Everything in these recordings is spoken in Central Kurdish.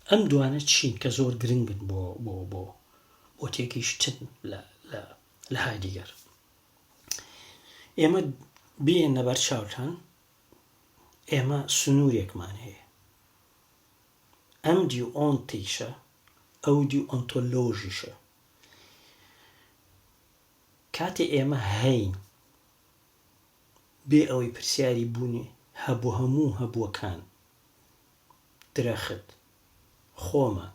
ئەم دوانە چین کە زۆر گرنگن بۆ بۆ بۆ بۆ تێگەیشتن لە لە لە هایدیگەر ئێمە بێن لەبەر چاوتان ئێمە سنوورێکمان هەیە ئەم دی ئۆن تیشە ئەو دی ئۆنتۆلۆژیشە کاتێ ئێمە هەین بێ ئەوەی پرسیاری بوونی هەبوو هەموو هەبووەکان درەخت، خۆمان،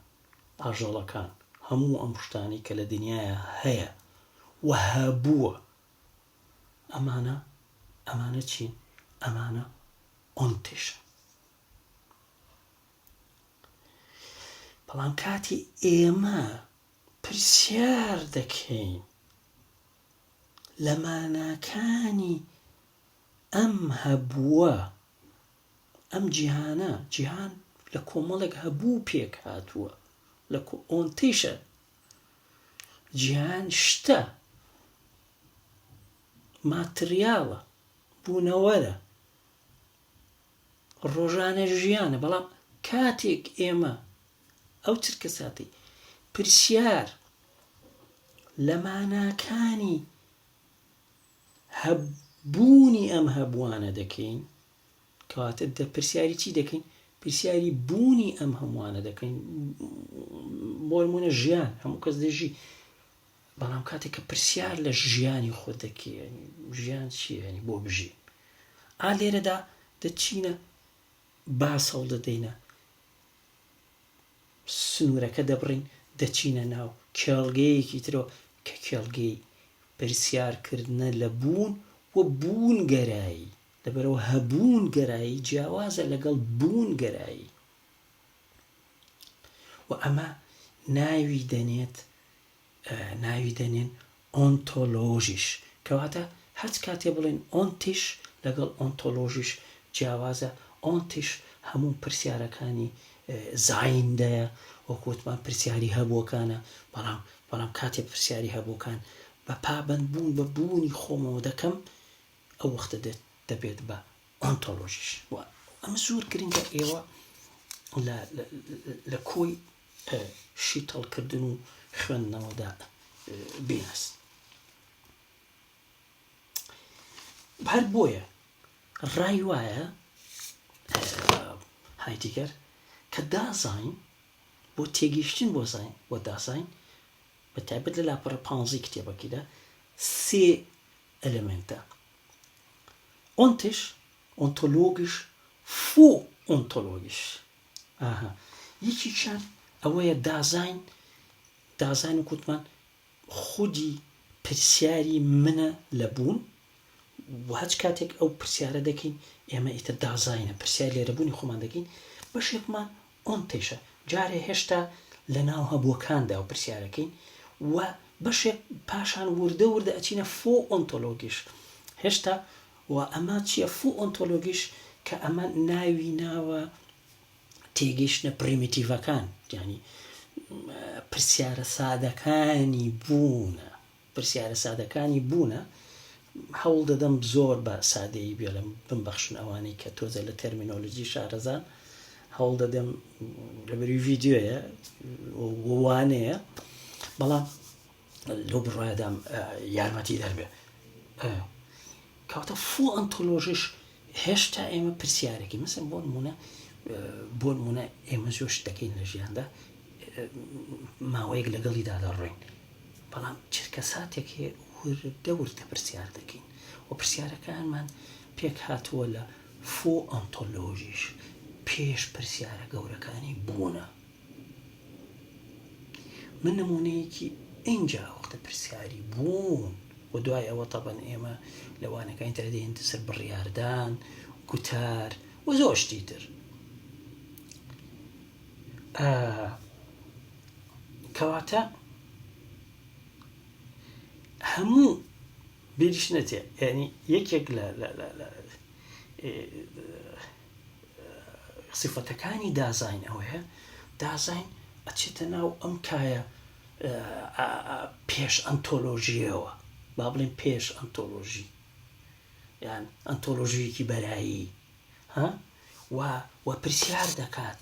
ئاژەڵەکان، هەموو ئەم شتانەی کە لە دنیایا هەیە و هەبووە، ئەمانە، ئەمانە چین؟ ئەمانە ئۆنتشن. بەڵام کاتی ئێمە پرسیار دەکەین لە ماناکانی ئەم هەبووە ئەم جیهانە جیهان لە کۆمەڵێک هەبوو پێک هاتووە لە ئۆنتیشە جیهان شتە ماتریاڵە بوونەوەرە ڕۆژانە ژیانە بەڵام کاتێک ئێمە ئەو چرکە ساتی پرسیار لە ماناکانی هەبوونی ئەم هەبووانە دەکەین، کەواتە دە پرسیاری چی دەکەین؟ پرسیاری بوونی ئەم هەمووانە دەکەین، بۆ نموونە ژیان، هەموو کەس دەژی، بەڵام کاتێک کە پرسیار لە ژیانی خۆت دەکەی، ژیان چییە بۆ بژی؟ ئا لێرەدا دەچینە باس هەوڵ دەدەینە سنوورەکە دەبڕین دەچینە ناو کێڵگەیەکی ترەوە کە کێڵگەی پرسیارکردنە لە بوون و بوونگەرایی، لەبەرئەوە هەبوون گەرایی جیاوازە لەگەڵ بوون گەرایی و ئەمە ناوی دەنێت ناوی دەنێن ئۆنتۆلۆژیش، کەواتە هەچ کاتێ بڵێن ئۆنتیش لەگەڵ ئۆنتۆلۆژیش جیاوازە، ئۆنتیش هەموو پرسیارەکانی زایندەیە، وەکو وتمان پرسیاری هەبووەکانە، بەڵام بەڵام کاتێ پرسیاری هەبووەکان بە پابەندبوون بە بوونی خۆمەوە دەکەم، ئەو وەختە دێت دەبێت بە ئۆنتۆلۆژیش و ئەمە زۆر گرنگە ئێوە لە کۆی شیتەڵکردن و خوێندنەوەدا بیناس هەر بۆیە ڕای وایە هایدیگەر کە دازین بۆ تێگەیشتن بۆ زین بۆ دازین بە تایبەت لە لاپەڕە پانزی کتێبەکەیدا سێ ئەلێمێنتە ئۆنتش، ئۆنتۆلۆگش، فو ئۆنتۆلۆگش. ئاها یەکێکیان ئەوەیە دازاین، دازاین وەک وتمان خودی پرسیاری منە لە بوون و هەچ کاتێک ئەو پرسیارە دەکەین ئێمە ئیتر دازاینە پرسیاری لێرەبوونی خۆمان دەکەین بەشێکمان ئەم قیشە جارێ هێشتا لە ناو هەبووەکاندا و پرسیارەکەین و بەشێک پاشان وردە وردە ئەچینە فو ئۆنتۆلۆگیش هێشتا و ئەمە چیە فو ئۆنتۆلۆگیش کە ئەمە ناوی ناوە تێگەیشتنە پریمیتیڤەکان یانی پرسیارە سادەکانی بوونە. پرسیارە سادەکانی بوونە هەوڵ دەدەم زۆر بە سادەیی بێڵێم بمبەخشن ئەوانەی کە تۆزێ لە تەرمینۆلۆجی شارەزان هەوڵ دەدەم لەبەری ڤیددیوەیە وانەیە بەڵام لەو بڕایدام یارمەتی دەربێ کەواتە فوو ئەنتۆلۆژیش هێشتا ئێمە پرسیارێکی مەسن بۆ نمونە بۆ نمونە ئێمە زۆر شتەکەین لە ژیاندا ماوەیەک لەگەڵیدا دەڕۆین بەڵام چرکە ساتێک وردە وردە پرسیار دەکەین و پرسیارەکانمان پێک هاتووە لە فۆ ئەنتۆلۆژیش پێش پرسیارە گەورەکانی بوونە من نموونەیەکی ئینجا وەختە پرسیاری بوون و دوای ئەوە تەبەن ئێمە لە وانەکانی تر دێن سەر بڕیاردان گوتار و زۆر شتی تر کەواتە هەموو بێریش نەچێت ینی یەکێک لە سیفەتەکانی دازاین ئەوەیە دازاین ئەچێتە ناو ئەم کایە پێش ئەنتۆلۆژیەوە با بڵێن پێش ئەنتۆلۆژی یان ئەنتۆلۆژیەکی بەرایی ها و وە پرسیار دەکات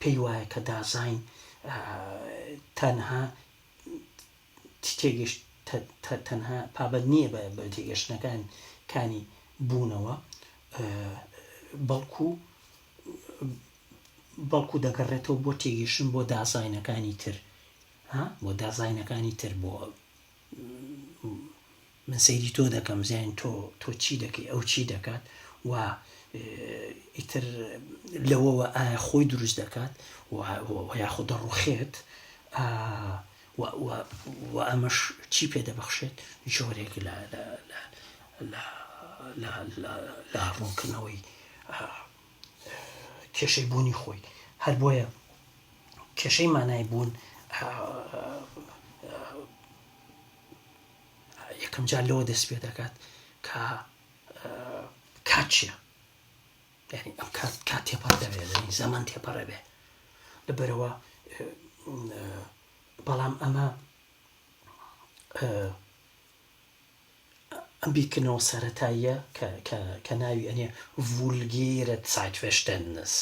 پێی وایە کە دازاین تەنها تێگەشت تەنها پابەند نییە بە تێگەشتنەکان کانی بوونەوە بەڵکو بەڵکو دەگەڕێتەوە بۆ تێگەشتن بۆ دازاینەکانی تر بۆ دازاینەکانی تر بۆ من سەیری تۆ دەکەم زین تۆ تۆ چی دەکەی ئەو چی دەکات و ئیتر لەوەوە ئایا خۆی دروست دەکات یاخۆ دەڕوخێت و ئەمەش چی پێ دەبەخشێت جۆرێک لە لە ڕوونکردنەوەی کێشەی بوونی خۆی هەر بۆیە کێشەی مانای بوون یەکەم جار لەوە دەست پێ دەکات کە کات چیە یعنی ئەم کات کات تێپەڕ دەبێت زەمان تێپەڕە بێ لەبەرەوە بەڵام ئەمە ئەم بیکردنەوە سەتاییە کە ناوی ئەنێ ڤولگیرە سایتفشتنس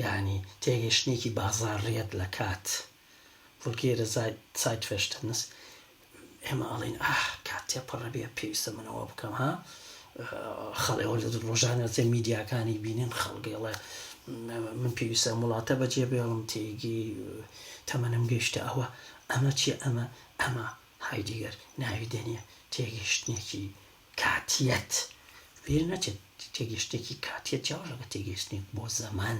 یعنی تێگەشتێکی بازاڕیەت لە کات ڤولگەیرە زایتفێشتنس، ئێمە ئەڵێین ئاه کات تێپەڕەبێ پێویستە من ئەوە بکەم ها خەڵێ ئەوە لە ڕۆژانە جێ میدیاکانی بینین خەڵگەڵێ من پێویستە وڵاتە بەجێ بێڵم تێگی تەمەنم گەیشتە ئەوە ئەمە چی ئەمە ئەمە هایدیگەر ناوی دێنێ تێگەشتنێکی کاتیەت بیر نەچێت تێگەشتێکی کاتیە جیاوەژەکە تێگەشتنێک بۆ زەمان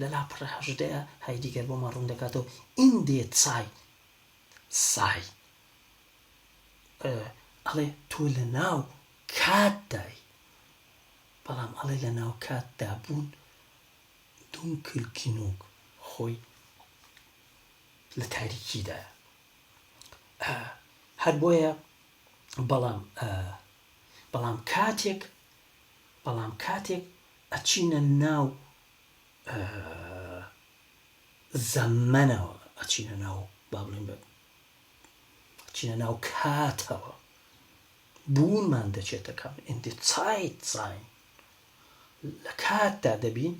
لە لاپەڕە هەژدەیا هایدیگەر بۆمان ڕوون دەکاتەوە ئین دێ تسای تسای ئەڵێ تۆ لە ناو کاتدای بەڵام ئەڵێ لە ناو کاتدا بوون دوون کلکینۆک خۆی لە تاریکیدا هەر بۆیە بەڵام بەڵام کاتێک بەڵام کاتێک ئەچینە ناو زەمەنەوە ئەچینە ناو با بڵین بە چینە ناو کاتەوە بوونمان دەچێتە کەم ئیندی چایت زین لە کاتدا دەبین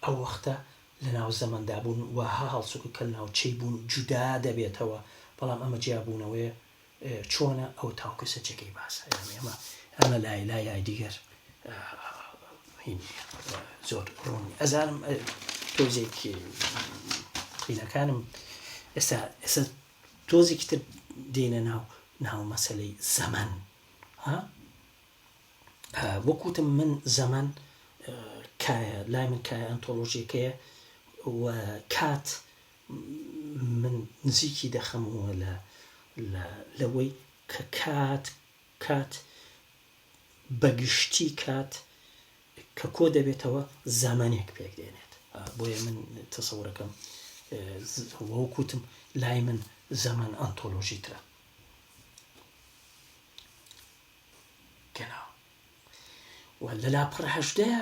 ئەو وەختە لە ناو زەمەندا بوون وەها هەڵسوکە کە ناوچەی بوون جودا دەبێتەوە بەڵام ئەمە جیابوونەوەی چۆنە ئەو تاو کەسە جێگەی باسە یانی ئەمە ئەمە لای لای لای دیگەر زۆر ڕوون ئەزانم تۆزێکی قینەکانم ئێستا ئێستا تۆزێکی تر دێنە ناو ناو مەسلەی زەمن ها وەکوتم من زەمن کایە لای من کایە ئەنتۆلۆژیەکەیە و کات من نزیکی دەخەمەوە لە لە لەوەی کە کات کات بە گشتی کات کە کۆ دەبێتەوە زامانێک پێک دێنێت بۆیە من تەسەورەکەم وەکوتم لای من زەمان ئەنتۆلۆژی ترە گەنا و لە لاپەڕ هەشدەیە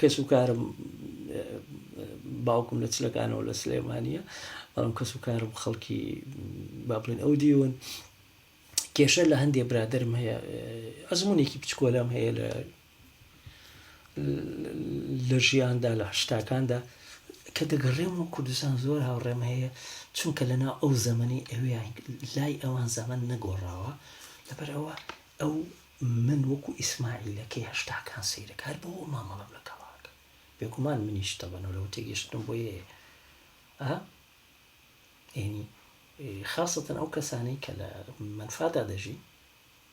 کەس و کارم باوکم لە چلەکانەوە لە سلێمانیە بەڵام کەس و کارم خەڵکی با بڵێن ئەو دیون کێشە لە هەندێ برادرم هەیە ئەزمونێکی بچکۆلەم هەیە لە لە ژیاندا لە هشتاکاندا کە دەگەڕێم و کوردستان زۆر هاوڕێم هەیە چونکە لەنا ئەو زەمەنی ئەویان لای ئەوان زەمن نەگۆڕاوە لەبەر ئەوە ئەو من وەکو ئیسماعیلەکەی هەشتاکان سەیرەکە هەر بۆ ئەو مامەڵەم لەگەڵا ئەکەم بێگومان منیش تەبەنەوە لەوە تێگەشتنم بۆ یەیە ئا یعنی خاصەتەن ئەو کەسانەی کە لە منفادا دەژی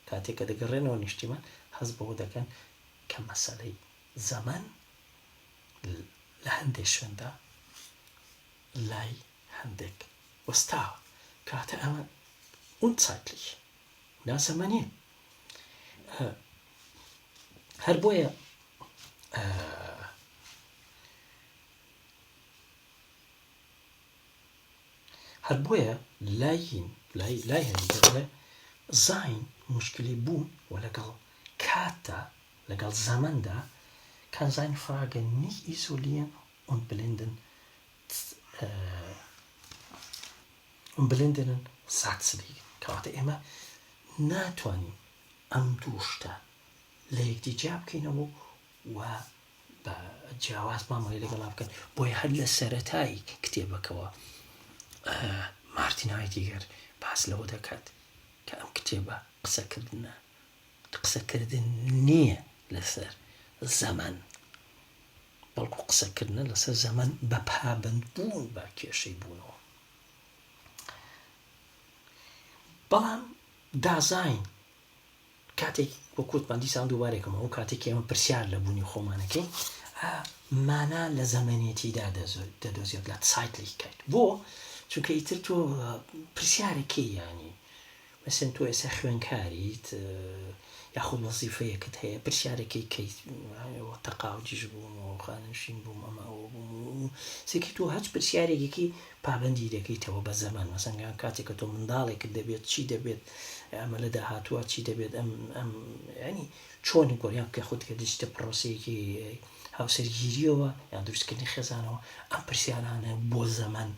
کاتێک کە دەگەڕێنەوە نیشتیمان هەز بەوە دەکەن کە مەسەلەی زەمەن لە هەندێک شوێندا لای هەندێک وەستاوە کاتە ئەمە اون سایتلیش ناسەمەنێ هەر بۆیە هەر بۆیە لاین لای لای هەندێ زین مشکلی بوون و لەگەڵ کاتدا لەگەڵ زەمەندا کانزین فراگە نیک ئیسۆلیەن ئۆن بلندن بلندنن سات سدیگن کەواتە ئێمە ناتوانین ئەم دوو شتە لە یەکدی جیا بکەینەوە و بە جیاواز مامەڵی لەگەڵا بکەن بۆی هەر لە سەرەتایی کتێبەکەەوە مارتینایتیگەر باس لەوە دەکات کە ئەم کتێبە قسەکردە قسەکردن نییە لەسەر زەمەن، بەڵکو قسەکردنە لەسەر زەمەن بە پابەندبوون بە کێشەی بوونەوە. بەڵام دازاین کاتێک وەکوتمان دیسان دووبارێکم ئەو کاتێک ئێمە پرسیار لە بوونی خۆمانەکەی مانا لە زەمەنێتیدا دەدۆزێت لە سایتلیکات بۆ چونکە ئیتر تۆ پرسیارەکەی ینی مەسەن تۆ ئێسا خوێنکاریت یاخۆ وەزیفەیەکت هەیە پرسیارەکەی کەیت وە تەقاوجیش بووم و خانەنشین بووم ئەمە ئەوە بووم و سێکی تۆ هەچ پرسیارێکێکی پابندی دەکەیتەوە بە زەمان مەسەنگان کاتێک کە تۆ منداڵێکت دەبێت چی دەبێت ئەمە لە داهاتوە چی دەبێت ئەم ئەم ینی چۆنی گۆریان کە خودکە دەچتە پرۆسەیەکی هاوسەرگیریەوە یان دروستکردنی خێزانەوە ئەم پرسیارانە بۆ زەمان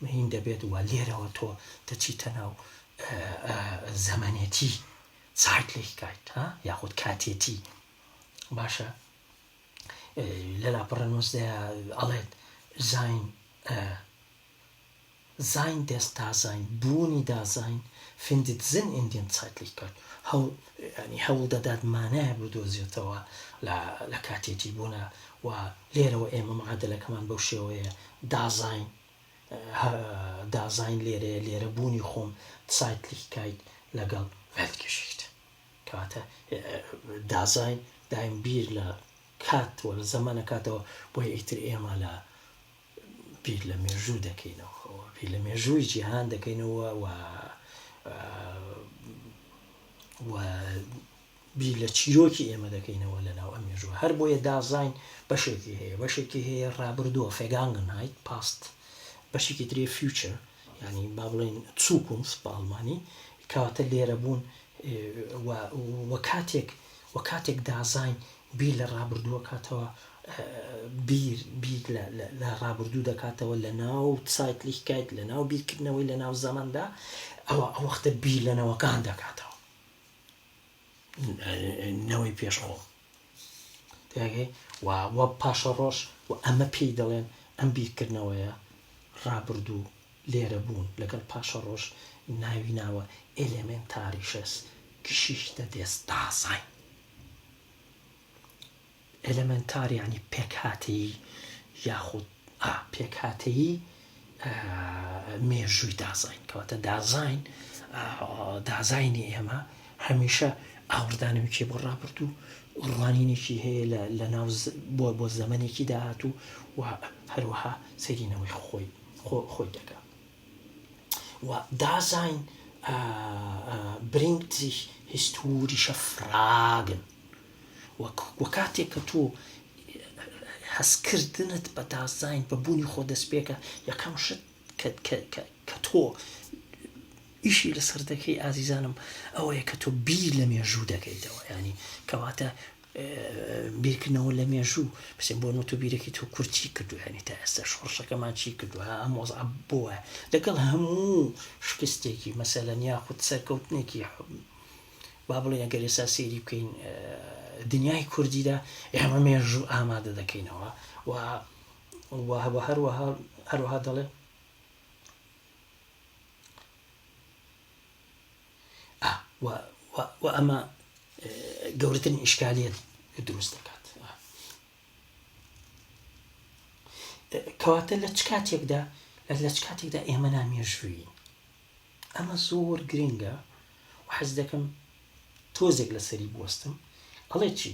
مەین دەبێت و لێرەوە تۆ دەچیتە ناو زەمەنێتی سایتلیکایت ها یاخود کاتێتی باشە لە لاپەڕە نووسدا ئەڵێت زین زین دەست دازین بوونی دازین فندت زن ئیندین سایتلیکایت هەوڵ ینی هەوڵ دەدات مانایە بدۆزێتەوە لە کاتێتی بوونە و لێرەوە ئێمە معادلەکەمان بەو شێوەیە دازاین هە دازاین لێرەیە لێرە بوونی خۆم سایتلیک کایت لەگەڵ ڤێلتگیشیشت کەواتە دازاین دایم بیر لە کات وە لە زەمانە کاتەوە بۆی ئیتر ئێمە لە بیر لە مێژوو دەکەینەوە بیر لە مێژووی جیهان دەکەینەوە و و بیر لە چیرۆکی ئێمە دەکەینەوە لە ناو ئەم مێژووە، هەر بۆیە دازاین بەشێکی هەیە، بەشێکی هەیە ڕابردووە، Vergangenheit، Past، بەشێکی تری Future، یانی با بڵێین Zukunft بە ئەڵمانی، کەواتە لێرە بوون و و کاتێک و کاتێک دازاین بیر لە ڕابردووە کاتەوە بیر بیر لە ڕابردوو دەکاتەوە لە ناو سایت لیکایت لە ناو بیرکردنەوەی لە ناو زەمەندا ئەوە ئەو وەختە بیر لەنەوەکان دەکاتەوە نەوەی پێش خۆم وە پاشە ڕۆژ و ئەمە پێی دەڵێن ئەم بیرکردنەوەیە ڕابردوو لێرە بوون لەگەڵ پاشە ڕۆژ ناوی ناوە ئلێمێن تاریشەس کشیشتە دێست داسای ئێلێمێنتار یانی پێکهاتەیی یاخود ئا پێکهاتەیی مێژووی دازاین کەواتە دازاین دازاینی ئێمە هەمیشە ئاوردانەوەکی بۆ ڕابرد و ڕوانینێکی هەیە لە ناو بۆ بۆ زەمنێکی داهات و هەروەها سەرینەوەی خۆی خۆی دەکە و دازاین برینگت زیش هیستوریشە فراگن وە کاتێک کە تۆ هەستکردنت بە دازاین بە بوونی خۆ دەست پێکە یەکەم شت کە تۆ ئیشی لەسەر دەکەی ئازیزانم ئەوەیە کە تۆ بیر لە مێژوو دەکەیتەوە ینی کەواتە بیرکردنەوە لە مێژوو بچێ بۆ نوت و بیرەکەی تۆ کورد چی کردو یانی تا ئێستا شۆڕشەکەمان چی کردو ها ئەم وەزعە بووە لەگەڵ هەموو شکستێکی مەسەلەن یاخود سەرکەوتنێکی با بڵێ ئەگەر ئێستا سێری بکەین دنیای کوردیدا ئێمە مێژوو ئامادە دەکەینەوە و وهوە هەروەها هەروەها دەڵێ ئا وە وە وە ئەمە گەورەترین ئیشکالیت دروست دەکات کەواتە لە چ کاتێکدا لە چ کاتێکدا ئێمە نامێژووی ئەمە زۆر گرنگە حەز دەکەم تۆزێک لەسەری بستم ئەڵێ چی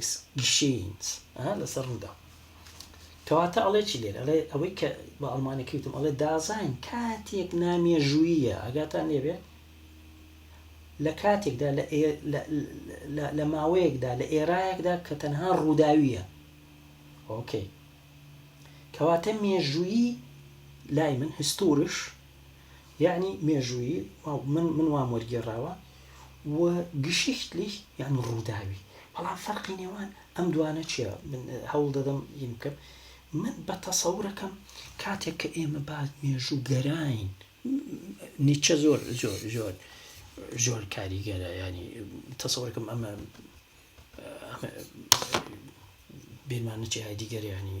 Es geschehnt ە لەسەر ڕوودا. کەواتە ئەڵێ چی لێرە؟ ئەڵێ ئەوەی کە بە ئەڵمانیەکەی وتم ئەڵێ دازاین کاتێک نامێژووییە ئاگاتان لێبێت لە کاتێکدا لە ماوەیەکدا لە ئێرایەکدا کە تەنها ڕووداویە ئۆکەی کەواتە مێژوویی لای من هستورش یەعنی مێژوویی واو من من وام وەرگێڕاوە و گشیشتلیش یەعنی ڕووداوی بەڵام فەرقی نێوان ئەم دوانە چیە من هەوڵ دەدەم یم بکەم من بە تەسەوڕەکەم کاتێک کە ئێمە با مێژوو گەراین نیچە زۆر زۆر زۆر زۆر کاریگەرە ینی تەسەوەکەم ئەمە بیرمان نچی هایدیگەریانی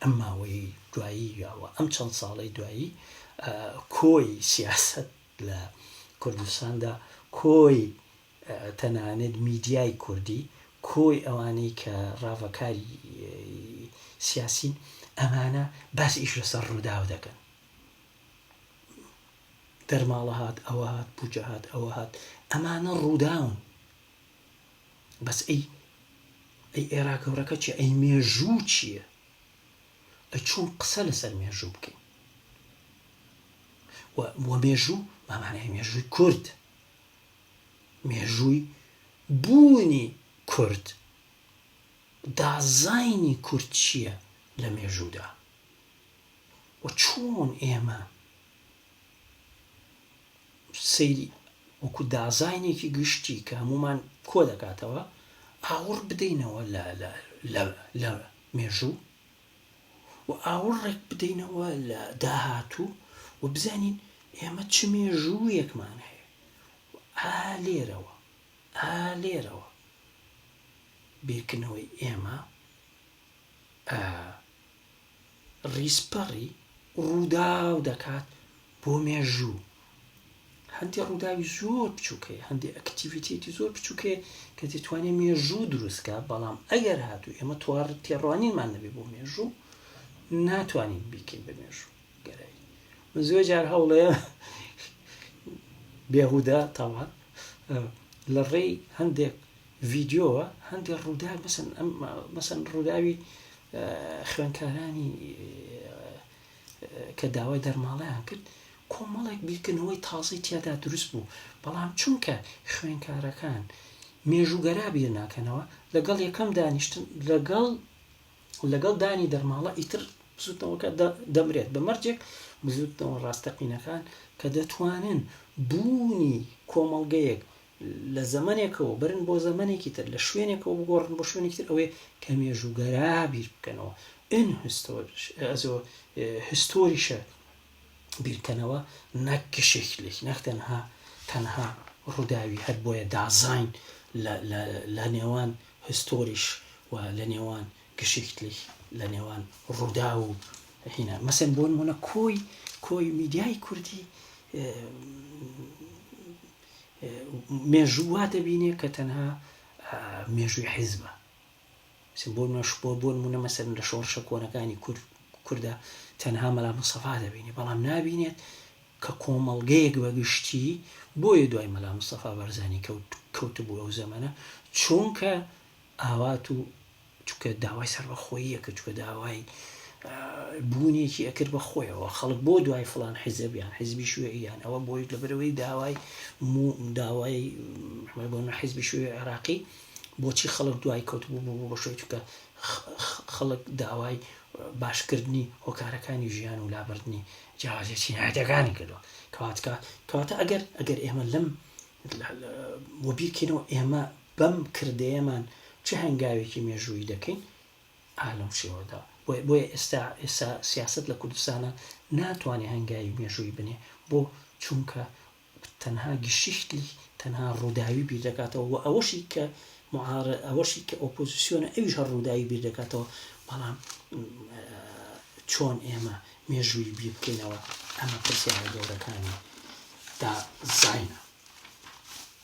ئەم ماوەی دوایی یاوە ئەم چەند ساڵی دوایی کۆی سیاست لە کوردستاندا کۆی تەنانێت میدیای کوردی کۆی ئەوانەی کە ڕاڤەکاری سیاسین ئەمانە باس ئیش لەسەر ڕووداو دەکەن دەرماڵە هاات ئەوە هاات بجەهات ئەوە هاات ئەمانە ڕووداون بەس ئەی ئەی ئێرا گەورەکە چیە ئەی مێژوو چیە ئەی چۆن قسە لەسەر مێژوو بکەین وە مێژوو بەمانای مێژووی کورد مێژووی بوونی کورد دازاینی کورد چییە لە مێژوودا و چۆن ئێمە سەیری وەکو دازاینێکی گشتی کە هەمومان کۆ دەکاتەوە ئاوڕ بدەینەوە لە لە لە لە مێژوو و ئاوڕێک بدەینەوە لە داهاتوو و بزانین ئێمە چ مێژوویەکمان هەیە ئا لێرەوە ئا لێرەوە بیرکردنەوەی ئێمە ڕیزپەڕی ڕووداو دەکات بۆ مێژوو هەندێک ڕووداوی زۆر بچووکەیە هەندێک ئەکتیڤیتێتی زۆر بچووکەیە کە دەتوانێت مێژوو دروستکە بەڵام ئەگەر هاتوو ئێمە توار تێڕوانینمان نەبێ بۆ مێژوو ناتوانین بیکەین بە مێژوو گەرایی من زۆر جار هەوڵەیە بێهودا تاوان لە ڕێی هەندێک ڤیدیۆ هەندێک ڕووداو مەسەن ڕووداوی خوێنکارانی کە داوای دەرماڵیان کرد کۆمەڵێک بیرکردنەوەی تازەی تیادا دروست بوو بەڵام چونکە خوێنکارەکان مێژوگەرا بیر ناکەنەوە لەگەڵ یەکەم دانیشتن لەگەڵ لەگەڵ دانی دەرماڵە ئیتر بزوتنەوەکە دەمرێت بە مەرجێک بزوتنەوە ڕاستەقینەکان کە دەتوانن بوونی کۆمەڵگەیەک لە زەمەنێکەوە بەرن بۆ زەمەنێکی تر، لە شوێنێکەوە بگۆڕن بۆ شوێنێکی تر، ئەوەیە کە مێژووگەرا بیر بکەنەوە، ان هستۆرش ئەزۆ هستۆریشە بیر کەنەوە نەک گشیخلیک نەک تەنها تەنها ڕووداوی هەر بۆیە دازاین لە نێوان هستۆریش و لە نێوان گشیخلیک لە نێوان ڕوودا و هینە مەسن بۆن منە کۆی کۆی میدیای کوردی مێژوو وا دەبینێ کە تەنها مێژووی حیزبە بۆش بۆ بۆ نمونە مەسەر لە شۆڕشە کۆنەکانی کورد کووردە تەنها مەلا مسەفا دەبینێ بەڵام نبینێت کە کۆمەڵگەیەک بە گشتی بۆیە دوای مەلا مسەفا بەرزانی کەوت کەوت بوو ئەو زەمەە چونکە ئاوات و چونکە داوای سەربەخۆیی ئەکرد، چونکە داوای بوونێکی ئەکرد بە خۆیەوە، خەڵک بۆ دوای فڵان حیزب یان حیزبی شوێعی یان ئەوە بۆی لەبەرەوەی داوای داوای بۆ حیزبی شوێ عێراقی بۆچی خەڵک دوای کەوت بوو بوو بە شوێ چونکە خەڵک داوای باشکردنی هۆکارەکانی ژیان و لابردنی جیاوازە چینایەتەکانی کردووە کەواتکە کەواتە ئەگەر ئەگەر ئێمە لەم وەبیکەینەوە ئێمە بەم کردەیەمان چ هەنگاوێکی مێژوویی دەکەین؟ ئا لەم شێوەدا. بۆیە بۆیە ئێستا ئێستا سیاسەت لە کوردستانا ناتوانێ هەنگاوی مێژوویی بنێ. بۆ؟ چونکە تەنها گشیشتلی تەنها ڕووداوی بیر دەکاتەوە و ئەوەشی کە معار ئەوەشی کە ئۆپۆزیسیۆنە ئەویش هەر ڕووداوی بیر دەکاتەوە بەڵام چۆن ئێمە مێژووی بیر بکەینەوە ئەمە پرسیارە گەورەکانی دا زینە.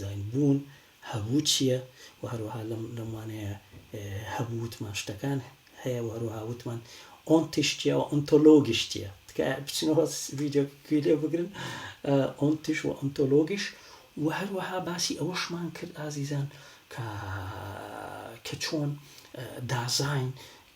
زانی بوون، هەبوو چییە و هەروەها لەم وانەیە هەبوو وتمان شتەکان هەیە و هەروەها وتمان ئۆنتیش چییە و ئۆنتۆلۆگیش چییە. تکایە بچنەوە ڤیدیۆکە گوێ لێ بگرن ئۆنتیش و ئۆنتۆلۆگیش و هەروەها باسی ئەوەشمان کرد ئازیزان کە چۆن دازاین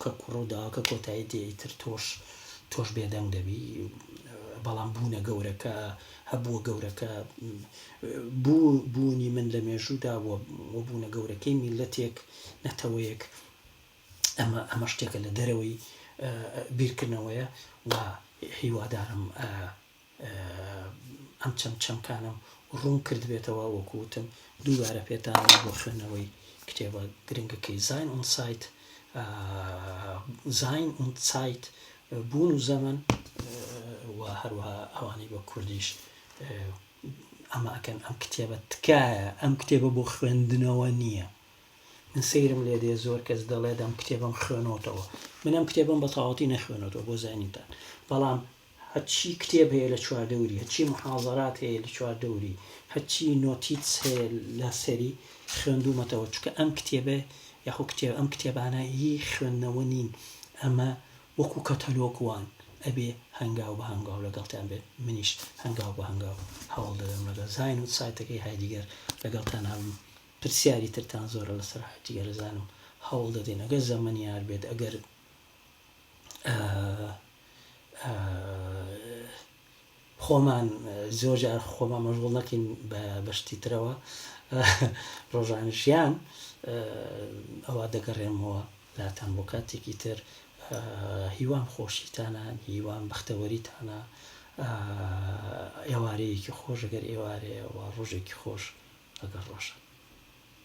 کە کوڕو داکە کۆتایی دێ ئیتر تۆش تۆش بێدەنگ دەبی بەڵام بوونە گەورەکە هەبووە گەورەکە بوو بوونی من لە مێژوودا بووە بۆ بوونە گەورەکەی میلەتێک نەتەوەیەک ئەمە ئەمە شتێکە لە دەرەوەی بیرکردنەوەیە و هیوادارم ئەم چەم چەمکانەم ڕوون کردبێتەوە وەکو وتم دووبارە پێتان بۆ خوێندنەوەی کتێبە گرنگەکەی زین ئون سایت زین ئون سایت بوون و زەمن و هەروەها ئەوانەی بە کوردیش ئەمە ئەکەن ئەم کتێبە تکایە ئەم کتێبە بۆ خوێندنەوە نییە من سەیرم لێ دێ زۆر کەس دەڵێت ئەم کتێبم خوێنەوەتەوە منم کتێبم بە تاواتی نەخوێنەوە بۆ زانیتان بەڵام هەرچی کتێب هەیە لە چواردەوری، هەرچی موحازەرات هەیە لە چواردەوری، هەرچی نۆتیتس هەیە لە سەری خوێندوومەتەوە، چونکە ئەم کتێبە یاخۆ کتێب ئەم کتێبانە هی خوێندنەوە نین، ئەمە وەکوو کەتەلۆگ وان، ئەبێ هەنگاو بە هەنگاو لەگەڵتان بێت، منیش هەنگاو بە هەنگاو هەوڵ دەدەم لەگەڵ زاین و سایتەکەی هایدیگەر لەگەڵتان هەبم، پرسیاری ترتان زۆرە لەسەر هایدیگەر ئەزانم هەوڵ دەدەین ئەگەر زەمەن یار بێت، ئەگەر. خۆمان زۆر جار خۆمان مەژغول نەکەین بە بەشتی ترەوە ڕۆژانی ژیان ئەوە دەگەڕێمەوە لاتان بۆ کاتێکی تر هیوام خۆشیتانە هیوام بەختەوەریتانە ئێوارەیەکی خۆشەگەر ئێوارەیە و ڕۆژێکی خۆش ئەگەر ڕۆژە